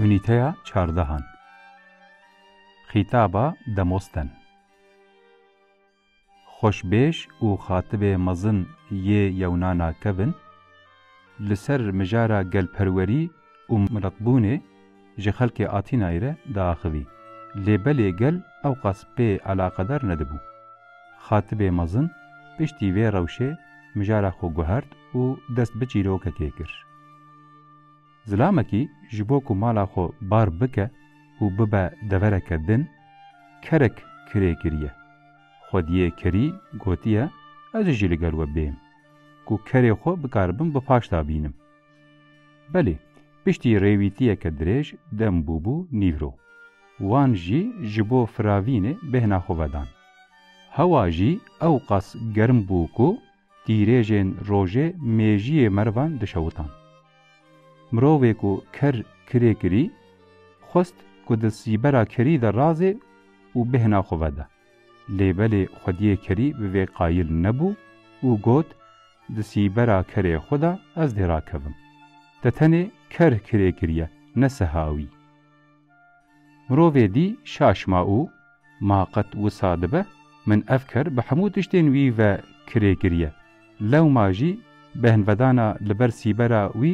Unîteya çardehan Xîtaba demosten Xweşbêj û xatibê mezin yê yewnana kevin li ser mijara gelperwerî û miletbûnê ji xelkê Atînayê re diaxivî, lê belê gel ewqas pê eleqedar nedibû. Xatibê mezin piştî vê rewşê mijara xwe guhert û dest bi çîrokekê kir. Zilamekî ji bo ku mala xwe bar bike û bibe devereke din, kerek kirê kiriye. Xwediyê kerî gotiye, Ez jî li gel we bêm, ku kerê xwe bikaribim bi paşda bînim. Belê, piştî rêwîtiyeke dirêj dem bûbû nîvro. Wan jî ji bo firavînê bêhna xwe vedan. Hewa jî ewqas germ bû ku tîrêjên rojê mêjiyê merivan dişewitan. Mirovê ku ker kirê kirî, xwest ku di sîbera kerî de razê û bêhna xwe vede. Lê belê xwediyê kerî bi vê qayil nebû û got, Di sîbera kerê xwe de ez dê rakevim. Te tenê ker kirê kiriye, ne siha wî. Mirovê dî şaş ma û Ma qet wisa dibe min ev ker bi hemû tiştên wî ve kirê kiriye. Lewma jî behnvedana li ber sîbera wî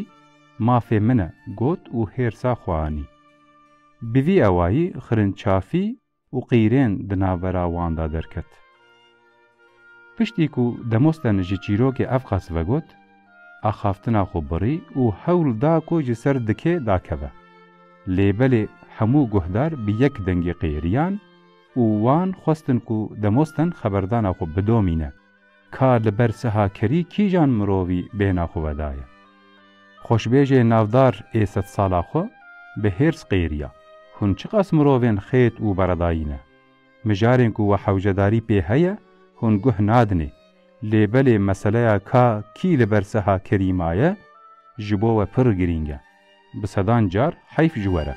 mafê min e got û hêrsa xwe anî. Bi vî ewayî xirinçafî û qîrên di navbera wan de derket. Piştî ku Demosthenes ji çîrokê Evqas vegot, axaftina xwe birî û hewl da ku ji ser dikê dakeve. Lê belê hemû guhdar bi yek dengî qîriyan û wan xwestin ku Demosthen xeberdana xwe bidomîne. Ka li ber sihakerî kîjan mirovî bêhna xwe vedaye? Xweşbêjê navdar ê sedsala xwe bi hêrs qêriya, Hûn çiqas mirovên xêt û beredayî ne. Mijarên ku we hewcedarî pê heye hûn guh nadinê, lê belê meseleya ka kî li ber sihakerî maye ji bo we pir girîng e. Bi sedan car heyf ji we re.